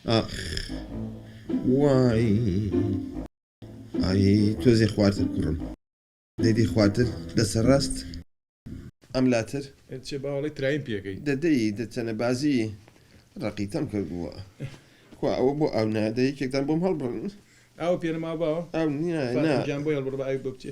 ئاخ وای ئای تۆزێ خوارتر کوڕم دەیدی خوارتر دەسە ڕاست ئەم لاتر چێ باوەڵی ترایم پێکەی دەدەی دەچەنە بازی ڕەقیتەم کردووە خوا ئەوە بۆ ئاو نادە یەکێکتان بۆم هەڵبڕن ئاو پێنەما باوە ئاو نییە نا گیان بۆ هەڵبڕ بە ئاوی بۆ بچێ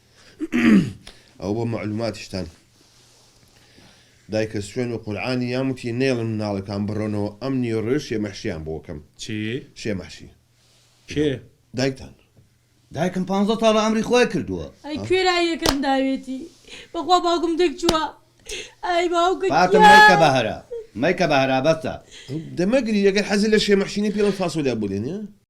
ئەوە بۆ مەعلوماتیشتان دایکە سوێن و قورعانی یام وتی نەیڵن مناڵەکان بڕۆنەوە ئەم نیوەڕۆیە شێمەحشیان بۆ کەم چی؟ شێمەحشی کێ؟ دایکتان دایکم پانزە ساڵە ئەمری خۆی کردووە ئەی کوێ لای یەکەم داوێتی بەخوا باوکم دەک چووە ئای باوکە گیان فاتم مەیکە بەهەرا مەیکە بەهەرا بەسە. دەمەگری ئەگەر حەزت لە شێمەحشی نیە پێڵەو فاسۆلیا بۆ لێنێ.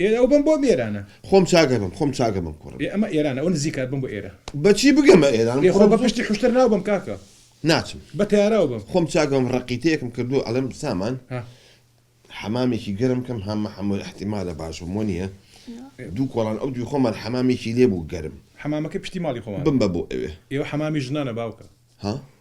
ئێ ئەو بەم بۆ ئێرانە. خۆم چاک ئەبم خۆم چاک ئەبم کوڕم. ئێ ئەمە ئێرانە ئەوە نزیکە ئەبم بۆ ئێرە. بە چی بگەمە ئێران ئێ خۆ بە کوڕم. پشتی حوشتر ناو بەم کاکە. ناچم. بە تەیاراو بەم. خۆم چاک ئەبم ڕەقیتەیەکم کردووە ئەڵێم سامان ها. حەمامێکی گەرم کەم ها مەحموود ئیحتیمالە باش بم وەنیە دوو کۆڵان ئەو دووی خۆمان حەمامێکی لێ بوو گەرم. حەمامەکەی پشتی ماڵی خۆمانە. بمبە بۆ ئەوێ. ئێ ئەو حەمامی ژنانە باوکە. ها.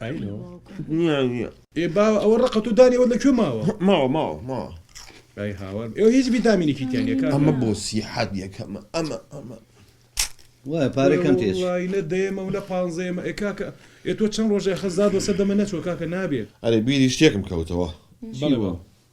ئای لۆ نیە نیە. ئێ باوە ئەوە ڕەقە تۆ دانی ئەوەت لە کوێ ماوە؟ ماوە ماوە ماوە. ئای هاوار ئێوە هیچ ڤیتامینێکی تیا نیە کاکە. ئەمە بۆ سیحەت یەکەمە ئەمە ئەمە. وایە پارەی کەم تێچی. وەڵڵاهی نە دەیەمە و نە پانزەیەمە ئێ کاکە ئێ تۆ چەن ڕۆژە خەزات وەسەر دەمە نەچووە کاکە نابێ. ئەرێ بیری شتێکم کەوتەوە. بەڵێ باوە.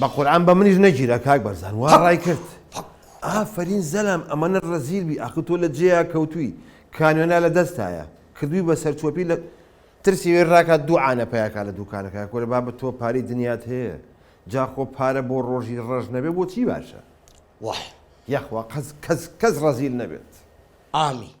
بە قورعان بە منیش نەگیرا کاک بەرزان وا ڕای کرد ئافەرین زەلام ئەمەە ڕەزیل بی ئاخ تۆ لە جێیا کەوتووی کانوێنا لە دەستایە کردووی بە سەرچۆپی لە ترسی وێ ڕاکات دوو عانە پیاکە لە دوکانەکە کورە با بە تۆ پاری دنیات هەیە جا خۆ پارە بۆ ڕۆژی ڕەش نەبێ بۆ چی باشە؟ وەح. یاخوا قەز کەس کەس ڕەزیل نەبێت. ئامین.